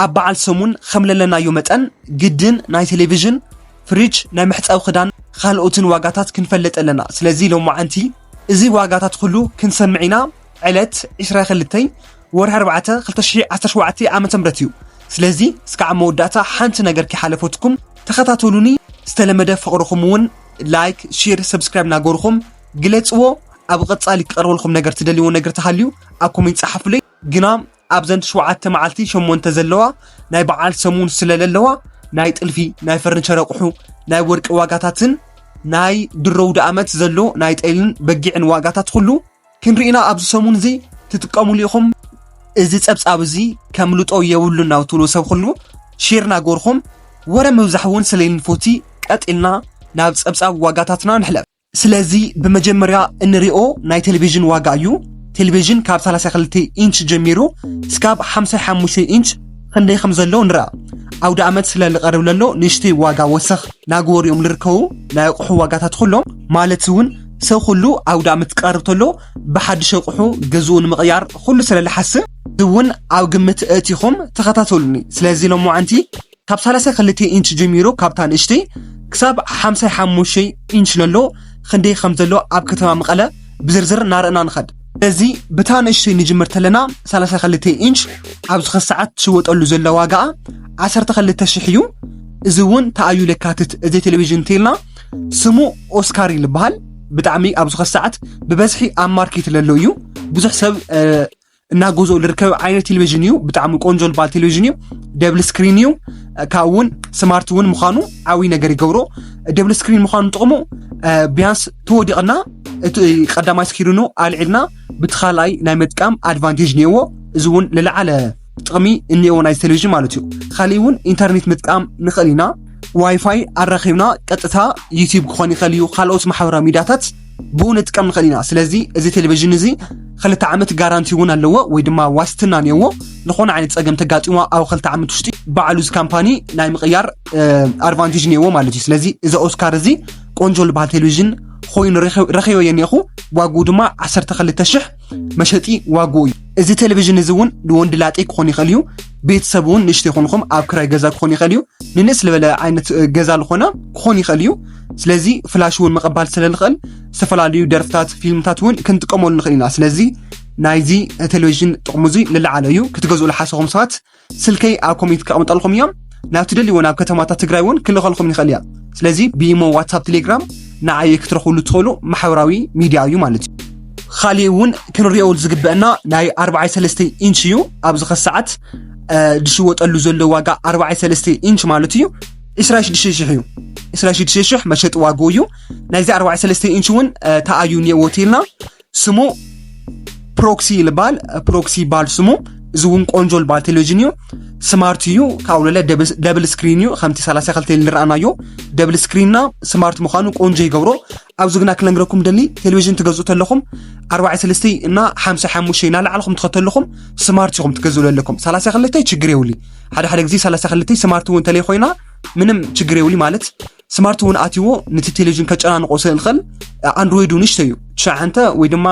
ኣብ በዓል ሰሙን ኸም ለለናዮ መጠን ግድን ናይ ቴሌቪዥን፣ ፍሪጅ፣ ናይ መሕጸቢ ኽዳን ኻልኦትን ዋጋታት ክንፈልጥ ኣለና። ስለዚ ሎማዓንቲ እዚ ዋጋታት ኹሉ ክንሰምዕ ኢና። ዕለት ዕስራ ኽልተይ ወርሒ ኣርባዕተ ክልተ ሽሕ ዓሰርተ ሸውዓተ ዓመተ ምህረት እዩ። ስለዚ እስካዕ መወዳእታ ሓንቲ ነገር ከይሓለፈትኩም ተኸታተሉኒ። ዝተለመደ ፍቕርኹም እውን ላይክ፣ ሼር፣ ሰብስክራይብ እናገበርኹም ግለጽዎ። ኣብ ቐጻሊ ክቐርበልኩም ነገር ትደልይዎ ነገር ተሃልዩ ኣብ ኮሜንት ጸሓፉለይ። ግና ኣብዘን ትሽውዓተ መዓልቲ ሸሞንተ ዘለዋ ናይ በዓል ሰሙን ስለ ለለዋ ናይ ጥልፊ፣ ናይ ፈርንቸር ኣቑሑ፣ ናይ ወርቂ ዋጋታትን ናይ ድሮ ውድኣመት ዘሎ ናይ ጤልን በጊዕን ዋጋታት ኩሉ ክንርኢና ኣብዚ ሰሙን እዚ ትጥቀሙሉ ኢኹም። እዚ ጸብጻብ እዚ ከምልጦ የብሉን ናብ ትብሉ ሰብ ኩሉ ሼር ናገርኹም ወረ ምብዛሕ እውን ስለይንፎቲ ቀጢልና ናብ ጸብጻብ ዋጋታትና ንሕለፍ። ስለዚ ብመጀመርያ እንሪኦ ናይ ቴሌቪዥን ዋጋ እዩ። ቴሌቪዥን ካብ 32 ኢንች ጀሚሩ ስካብ 55 ኢንች ክንደይ ከም ዘሎ ንርኣ። ኣውደ ኣመት ስለ ልቐርብ ለሎ ንእሽተይ ዋጋ ወሰኽ ናግበሩ እዮም ልርከቡ ናይ ኣቑሑ ዋጋታት ኩሎም ማለት እውን ሰብ ኩሉ ኣውደ ኣመት ክቐርብ ተሎ ብሓድሽ ኣቑሑ ገዝኡ ንምቕያር ኩሉ ስለ ልሓስብ እውን ኣብ ግምት እእቲኹም ተኸታተሉኒ። ስለዚ ሎምዓንቲ ካብ ሳላሳይ ክልተ ኢንች ጀሚሩ ካብታ ንእሽተይ ክሳብ ሓምሳይ ሓሙሽተይ ኢንች ለሎ ክንደይ ከም ዘሎ ኣብ ከተማ መቐለ ብዝርዝር እናረእና ንኸድ። እዚ ብታ ንእሽተይ ንጅምር ተለና ሳላሳይ ክልተ ኢንች ኣብዚ ክስ ሰዓት ትሽወጠሉ ዘለ ዋጋኣ ዓሰርተ ክልተ ሽሕ እዩ። እዚ እውን ተኣዩ ለካትት እዚ ቴሌቪዥን እንተልና ስሙ ኦስካር ይልበሃል ብጣዕሚ ኣብዚ ኸሰዓት ብበዝሒ ኣብ ማርኬት ለሎ እዩ ብዙሕ ሰብ እናጎዞ ልርከብ ዓይነት ቴሌቭዥን እዩ ብጣዕሚ ቆንጆ ልባል ቴሌቭዥን እዩ ደብል ስክሪን እዩ ካብ እውን ስማርት እውን ምዃኑ ዓብይ ነገር ይገብሮ ደብል ስክሪን ምዃኑ ጥቕሙ ቢያንስ ተወዲቕና እቲ ቀዳማይ ስኪሪኑ ኣልዒልና ብቲ ካልኣይ ናይ መጥቃም ኣድቫንቴጅ ነይዎ እዚ እውን ልለዓለ ጥቕሚ እኒኤዎ ናይ ቴሌቭዥን ማለት እዩ ካሊእ እውን ኢንተርኔት ምጥቃም ንኽእል ኢና ዋይፋይ ኣራኺብና ቀጥታ ዩቲብ ክኾን ይኽእል እዩ ካልኦት ማሕበራዊ ሚዲያታት ብኡ ንጥቀም ንኽእል ኢና ስለዚ እዚ ቴሌቭዥን እዚ ክልተ ዓመት ጋራንቲ እውን ኣለዎ ወይ ድማ ዋስትና እኒኦዎ ዝኾነ ዓይነት ፀገም ተጋጢሞ ኣብ ክልተ ዓመት ውሽጢ ባዕሉ እዚ ካምፓኒ ናይ ምቕያር ኣድቫንቴጅ እኒኦዎ ማለት እዩ ስለዚ እዚ ኦስካር እዚ ቆንጆ ዝበሃል ቴሌቭዥን ኮይኑ ረኺበዮ እኒኹ ዋግኡ ድማ 12 መሸጢ ዋግኡ እዩ። እዚ ቴሌቪዥን እዚ እውን ንወንዲ ላጤ ክኾን ይኽእል እዩ። ቤተሰብ እውን ንእሽቶ ይኾንኹም ኣብ ክራይ ገዛ ክኾን ይኽእል እዩ። ንንእስ ዝበለ ዓይነት ገዛ ዝኾነ ክኾን ይኽእል እዩ። ስለዚ ፍላሽ እውን ምቕባል ስለ ንኽእል ዝተፈላለዩ ደርፍታት ፊልምታት እውን ክንጥቀመሉ ንኽእል ኢና። ስለዚ ናይዚ ቴሌቪዥን ጥቕሙ እዚ ልለዓለ እዩ። ክትገዝኡ ዝሓሰኹም ሰባት ስልከይ ኣብ ኮሜንት ከቐምጠልኩም እዮም ናብ ትደልይዎ ናብ ከተማታት ትግራይ እውን ክልኸልኩም ይኽእል እያ ስለዚ ብኢሞ ዋትሳፕ ቴሌግራም ንዓየ ክትረኽብሉ ትኽእሉ ማሕበራዊ ሚድያ እዩ ማለት እዩ ካሊእ እውን ክንሪኦ ዝግበአና ናይ ኣርባዓይ ሰለስተ ኢንች እዩ ኣብዚ ኸ ሰዓት ዝሽወጠሉ ዘሎ ዋጋ ኣርባዓይ ሰለስተ ኢንች ማለት እዩ ዕስራ ሽዱሽተ ሽሕ እዩ ዕስራ ሽዱሽተ ሽሕ መሸጢ ዋግኡ እዩ ናይዚ ኣርባዓይ ሰለስተ ኢንች እውን ተኣዩ እኒኤዎ ቴልና ስሙ ፕሮክሲ ልባል ፕሮክሲ ይበሃል ስሙ እዚ እውን ቆንጆ ልባል ቴሌቪዥን እዩ ስማርት እዩ ካብኡ ለለ ደብል ስክሪን እዩ ከምቲ 32 ንረኣናዮ ደብል ስክሪንና ስማርት ምዃኑ ቆንጆ ይገብሮ ኣብዚ ግና ክነግረኩም ደሊ ቴሌቪዥን ትገዝኡ ተለኹም 43 እና 55 እናላዕልኹም ትኸተልኹም ስማርት ኢኹም ትገዝኡ ዘለኩም 32 ችግር የብሉ ሓደ ሓደ ግዜ 32 ስማርት እውን ተለይ ኮይና ምንም ችግር የብሉ ማለት ስማርት እውን ኣትዎ ነቲ ቴሌቪዥን ከጨናንቆ ስለ ዝኽእል ኣንድሮይድ ንሽቶ እዩ ትሸዓንተ ወይ ድማ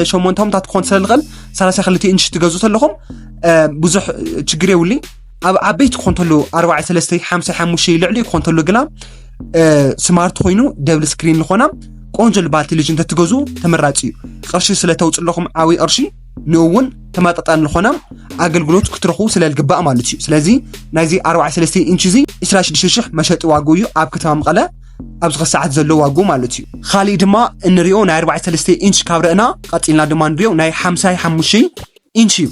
ሸሞንተ ምታት ክኾን ስለ ዝኽእል ሰላሳ ክልተ ኢንች ትገዙ ተለኹም ብዙሕ ችግር የብሉ ኣብ ዓበይቲ ክኾን ተሎ ኣርባዕተ ሰለስተ ሓምሳ ሓሙሽተ ልዕሊ ክኾን ተሎ ግና ስማርት ኮይኑ ደብል ስክሪን ዝኾና ቆንጆ ልባል ቴሌቪዥን ተትገዙ ተመራፂ እዩ ቅርሺ ስለ ተውፅእ ኣለኹም ዓብይ ቅርሺ ንእውን ተመጣጣኒ ዝኾነ ኣገልግሎት ክትረኽቡ ስለ ዝግባእ ማለት እዩ ስለዚ ናይዚ 43 ኢንች እዚ 26000 መሸጢ ዋግኡ እዩ ኣብ ከተማ መቐለ ኣብዚ ኸ ሰዓት ዘሎ ዋግኡ ማለት እዩ ካሊእ ድማ እንሪኦ ናይ 43 ኢንች ካብ ረእና ቀፂልና ድማ ንሪኦ ናይ 55 ኢንች እዩ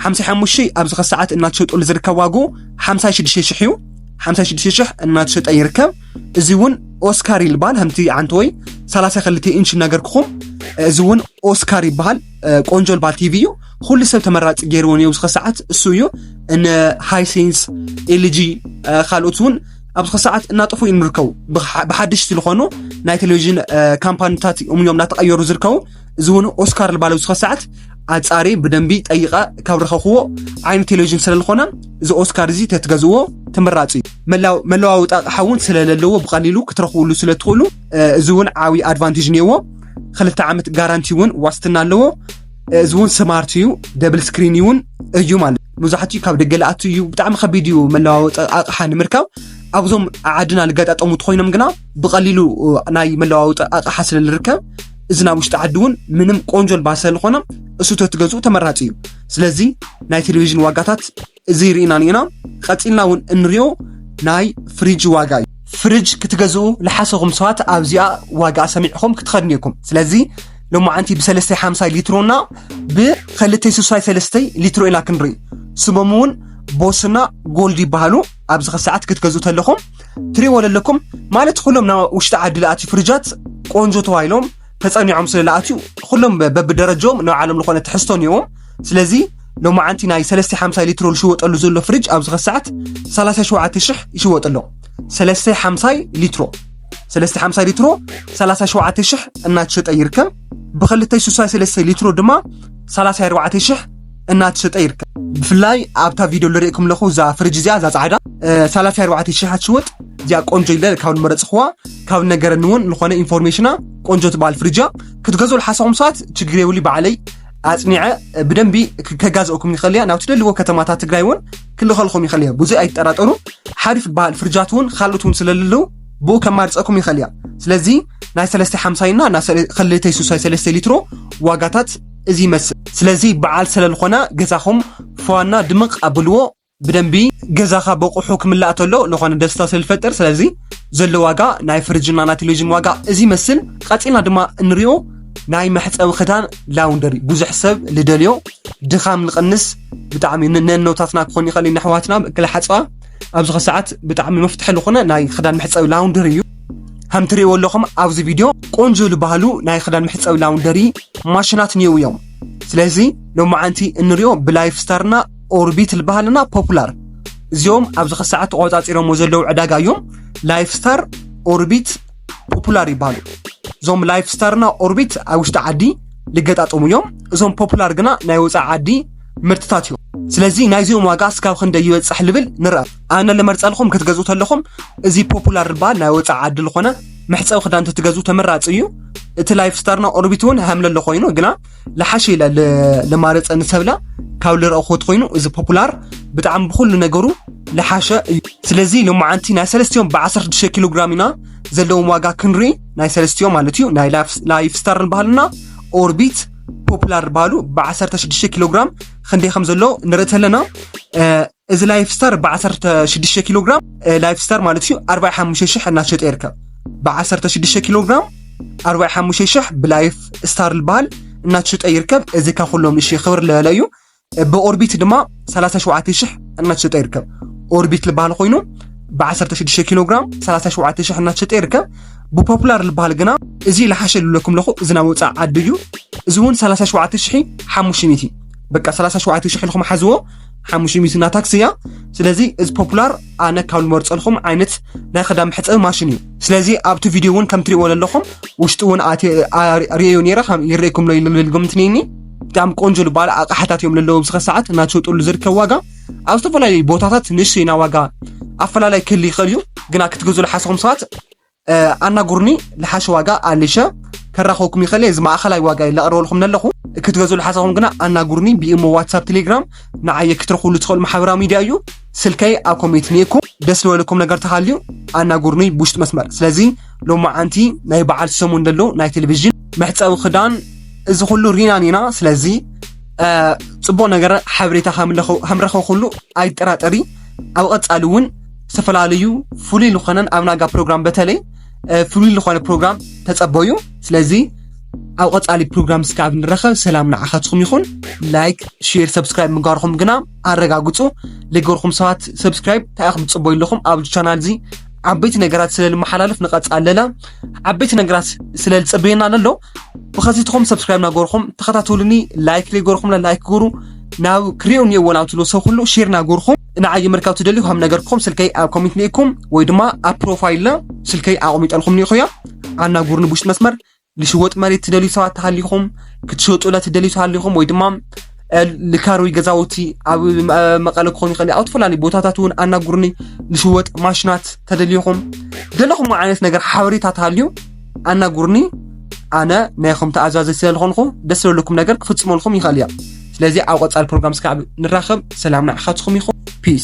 55 ኣብዚ ኸ ሰዓት እናተሸጠሉ ዝርከብ ዋግኡ 56000 እዩ 56000 እናተሸጠ ይርከብ እዚ እውን ኦስካር ይልባል ከምቲ ዓንተ ወይ ሰላሳ ክልተ ኢንች ነገርክኹም እዚ እውን ኦስካር ይበሃል ቆንጆ ልባል ቲቪ እዩ ኩሉ ሰብ ተመራፂ ገይርዎን እዩ ኣብዚ ሰዓት እሱ እዩ ንሃይሴንስ ኤልጂ ካልኦት እውን ኣብዚ ሰዓት እናጠፉ እዮም ዝርከቡ ብሓድሽ ዝልኾኑ ናይ ቴሌቭዥን ካምፓኒታት እዮም እናተቐየሩ ዝርከቡ እዚ እውን ኦስካር ልባለ ዝኸ ሰዓት ኣጻሪ ብደንቢ ጠይቐ ካብ ረኸኽዎ ዓይነ ቴሌቭዥን ስለ ዝኾነ እዚ ኦስካር እዚ ተትገዝዎ ተመራፂ እዩ መለዋወጢ ኣቕሓ እውን ስለለለዎ ብቐሊሉ ክትረኽብሉ ስለ ትኽእሉ እዚ እውን ዓብዪ ኣድቫንቴጅ እኒአዎ ክልተ ዓመት ጋራንቲ እውን ዋስትና ኣለዎ እዚ እውን ስማርት እዩ ደብል ስክሪን እውን እዩ ማለት መብዛሕትኡ ካብ ደገ ልኣቱ እዩ ብጣዕሚ ከቢድ እዩ መለዋወጢ ኣቕሓ ንምርካብ ኣብዞም ዓድና ዝገጣጠሙ ኮይኖም ግና ብቐሊሉ ናይ መለዋወጢ ኣቕሓ ስለ ዝርከብ እዚ ናብ ውሽጢ ዓዲ እውን ምንም ቆንጆ ልባስ ስለዝኾነ እሱ ተትገዝኡ ተመራፂ እዩ ስለዚ ናይ ቴሌቪዥን ዋጋታት እዚ ርኢና ንኢና ቀፂልና እውን እንሪኦ ናይ ፍሪጅ ዋጋ እዩ ፍሪጅ ክትገዝኡ ልሓሰኹም ሰባት ኣብዚኣ ዋጋ ሰሚዕኹም ክትኸድኑ ኢኹም ስለዚ ሎማዓንቲ ብሰለስተይ ሓምሳይ ሊትሮና ብኸልተይ ስሳይ ሰለስተይ ሊትሮ ኢና ክንርኢ ስሞም እውን ቦስና ጎልድ ይበሃሉ ኣብዚ ከሰዓት ክትገዝኡ ተለኹም ትሪእዎ ለለኩም ማለት ኩሎም ናብ ውሽጢ ዓዲ ለኣትዩ ፍርጃት ቆንጆ ተባሂሎም ተፀኒዖም ስለ ለኣትዩ ኩሎም በብደረጃም ናብ ዓለም ዝኾነ ትሕዝቶ ኒዎም ስለዚ ሎማዓንቲ ናይ 350 ሊትሮ ዝሽወጠሉ ዘሎ ፍርጅ ኣብዚ ከሰዓት 37 ሽሕ ይሽወጥ ኣሎ 350 ሊትሮ 350 ሊትሮ 37 ሽሕ እናተሸጠ ይርከብ ብክልተይ 63 ሊትሮ ድማ 34 ሽሕ እናተሸጠ ይርከብ ብፍላይ ኣብታ ቪድዮ ልርእኩም ኣለኹ እዛ ፍርጅ እዚኣ እዛ ፃዕዳ ሰላሳ ኣርባዕተ ሽሓ ትሽወጥ እዚኣ ቆንጆ ኢለ ካብ ንመረፅኽዋ ካብ ነገረኒ እውን ዝኾነ ኢንፎርሜሽና ቆንጆ ትበሃል ፍርጃ ክትገዝኡ ልሓሰኹም ሰባት ችግር የብሉ ባዕለይ ኣፅኒዐ ብደንቢ ከጋዝኦኩም ይኽእል እያ ናብ ትደልዎ ከተማታት ትግራይ እውን ክልኸልኹም ይኽእል እያ ብዙ ኣይትጠራጠሩ ሓሪፍ ትበሃል ፍርጃት እውን ካልኦት እውን ስለልለው ብኡ ከማርፀኩም ይኽእል እያ ስለዚ ናይ ሰለስተ ሓምሳይና ናይ ክልተይ ሱሳይ ሰለስተ ሊትሮ ዋጋታት እዚ ይመስል ስለዚ በዓል ሰለልኾና ገዛኹም ፏና ድምቅ ኣብልዎ ብደንቢ ገዛኻ በቁሑ ክምላእ ተሎ ልኾነ ደስታ ሰልፈጥር ስለዚ ዘሎ ዋጋ ናይ ፍርጅና ናይ ቴሌቪዥን ዋጋ እዚ ይመስል ቀጺልና ድማ እንሪኦ ናይ መሕፀቢ ክዳን ላውንደሪ ብዙሕ ሰብ ልደልዮ ድኻም ንቕንስ ብጣዕሚ ነኖታትና ክኾን ይኽእል ነሕዋትና ክልሓፅባ ኣብዚ ከሰዓት ብጣዕሚ መፍትሒ ዝኾነ ናይ ክዳን መሕፀቢ ላውንደሪ እዩ ከም ትሪእዎ ኣለኹም ኣብዚ ቪድዮ ቆንጆ ዝበሃሉ ናይ ክዳን መሕፀቢ ላውንደሪ ማሽናት እኒው እዮም ስለዚ ሎማዓንቲ እንሪኦ ብላይፍ ስታርና ኦርቢት ዝበሃልና ፖፑላር እዚኦም ኣብዚ ከሰዓት ተቆፃፂሮሞ ዘለዉ ዕዳጋ እዮም ላይፍ ስታር ኦርቢት ፖፑላር ይበሃሉ እዞም ላይፍ ስታርና ኦርቢት ኣብ ውሽጢ ዓዲ ልገጣጠሙ እዮም እዞም ፖፑላር ግና ናይ ወፃኢ ዓዲ ምርትታት እዮም ስለዚ ናይዚኦም ዋጋ እስካብ ክንደይ ይበፅሕ ልብል ንርአ ኣነ ልመርፀልኩም ክትገዝኡ ተለኹም እዚ ፖፑላር ዝበሃል ናይ ወፃኢ ዓዲ ዝኾነ መሕፀቢ ክዳን ተትገዝኡ ተመራፂ እዩ እቲ ላይፍ ስታርና ኦርቢት እውን ሃምለሎ ኮይኑ ግና ልሓሸ ኢለ ልማረፀ ንሰብለ ካብ ልረእኹት ኮይኑ እዚ ፖፑላር ብጣዕሚ ብኩሉ ነገሩ ልሓሸ እዩ ስለዚ ሎማዓንቲ ናይ ሰለስቲኦም ብ16 ኪሎ ግራም ኢና ዘለዎም ዋጋ ክንርኢ ናይ ሰለስቲኦም ማለት እዩ ናይ ላይፍ ስታር ንባህልና ኦርቢት ፖፑላር ባሉ ብ16 ኪሎ ግራም ክንደይ ከም ዘሎ ንርኢ ኣለና እዚ ላይፍ ስታር ብዓሰርተ ሽዱሽተ ኪሎ ግራም ላይፍ ስታር ማለት እዩ ኣርባዕ ሓሙሽተ ሽሕ እናሸጠ ይርከብ ብዓሰርተ ሽዱሽተ ኪሎ ግራም ኣርባዕ ሓሙሽተ ሽሕ ብላይፍ ስታር ዝበሃል እናተሸጠ ይርከብ እዚ ካብ ኩሎም እሺ ክብር ልዕለ እዩ ብኦርቢት ድማ 37 ሽሕ እናተሸጠ ይርከብ ኦርቢት ዝበሃል ኮይኑ ብ16 ኪሎ ግራም 37 ሽሕ እናተሸጠ ይርከብ ብፖፑላር ዝበሃል ግና እዚ ልሓሸ ልብለኩም ለኹ እዚ ናብ ወፃእ ዓዲ እዩ እዚ እውን 37 ሽሒ ሓሙሽተ ሚእቲ በቃ 37 ሽሕ ኢልኩም ሓዝዎ ሓሙሽተ ሚእቲ እና ታክሲ እያ ስለዚ እዚ ፖፑላር ኣነ ካብ ዝመርፀልኩም ዓይነት ናይ ክዳን መሕፀቢ ማሽን እዩ ስለዚ ኣብቲ ቪድዮ እውን ከም ትሪእዎ ዘለኹም ውሽጢ እውን ርእዮ ነይረ ይርእኩም ሎ ልብል ግምት ነኒ ብጣዕሚ ቆንጆ ዝበሃል ኣቕሓታት እዮም ለለዎ ብስኸ ሰዓት እናትሸጠሉ ዝርከብ ዋጋ ኣብ ዝተፈላለዩ ቦታታት ንእሽተይና ዋጋ ኣፈላላይ ክህል ይኽእል እዩ ግና ክትገዝሉ ሓሰኹም ሰባት ኣናግሩኒ ልሓሽ ዋጋ ኣሊሸ ከራኸብኩም ይኽእል እየ እዚ ማእኸላይ ዋጋ እዩ ለቕርበልኩም ነለኹ ክትገዝኡ ልሓሰኹም ግና ኣናግሩኒ ብኢሞ ዋትሳፕ ቴሌግራም ንዓየ ክትረኽብሉ ትኽእሉ ማሕበራዊ ሚድያ እዩ ስልከይ ኣብ ኮሜንት ንየኩም ደስ ዝበለኩም ነገር ተሃልዩ ኣናግሩኒ ብውሽጢ መስመር ስለዚ ሎማዓንቲ ናይ በዓል ሰሙን ዘሎ ናይ ቴሌቭዥን መሕፀቢ ክዳን እዚ ኩሉ ሪናን ኢና ስለዚ ፅቡቅ ነገር ሓበሬታ ከምረኸብኩሉ ኣይጠራጠሪ ኣብ ቐፃሊ እውን ዝተፈላለዩ ፍሉይ ዝኾነን ኣብ ናጋ ፕሮግራም በተለይ ፍሉይ ዝኾነ ፕሮግራም ተጸበዩ ስለዚ ኣብ ቐጻሊ ፕሮግራም ስካ ኣብ ንረኸብ ሰላም ንዓኻትኹም ይኹን ላይክ ሼር ሰብስክራይብ ምግባርኹም ግና ኣረጋግጹ ልገርኩም ሰባት ሰብስክራይብ ታይኹም ጽበዩ ኣለኹም ኣብዚ ቻናል እዚ ዓበይቲ ነገራት ስለ ልመሓላልፍ ንቐጻል ለለ ዓበይቲ ነገራት ስለ ዝጽበየና ለሎ ብኸዚትኹም ሰብስክራይብ ናገርኹም ተኸታተሉኒ ላይክ ለገርኹም ላይክ ገሩ ናብ ክሪኦ እኒኦዎ ናብ ትብሎ ሰብ ኩሉ ሼር ናገርኹም ንዓይ ምርካብ ትደልዩ ከም ነገርኩም ስልከይ ኣብ ኮሚት ኒኢኩም ወይ ድማ ኣብ ፕሮፋይልና ስልከይ ኣቕሚጠልኩም ኒኢኹያ ኣናጉርኒ ብውሽጢ መስመር ልሽወጥ መሬት ትደልዩ ሰባት ተሃሊኹም ክትሸጡለ ትደልዩ ተሃሊኹም ወይ ድማ ልካር ወይ ገዛውቲ ኣብ መቐለ ክኾኑ ይኽእል ኣብ ዝተፈላለዩ ቦታታት እውን ኣናጉርኒ ልሽወጥ ማሽናት ተደልዩኹም ዘለኹም ዓይነት ነገር ሓበሬታ ተሃልዩ ኣናግሩኒ ኣነ ናይኹም ተኣዛዘይ ስለ ዝኾንኹ ደስ ዘለኩም ነገር ክፍፅመልኩም ይኽእል እያ ስለዚ ኣብ ቀፃሊ ፕሮግራም ስካብ ንራኸብ ሰላም ንዓኻትኩም ይኹን ፒስ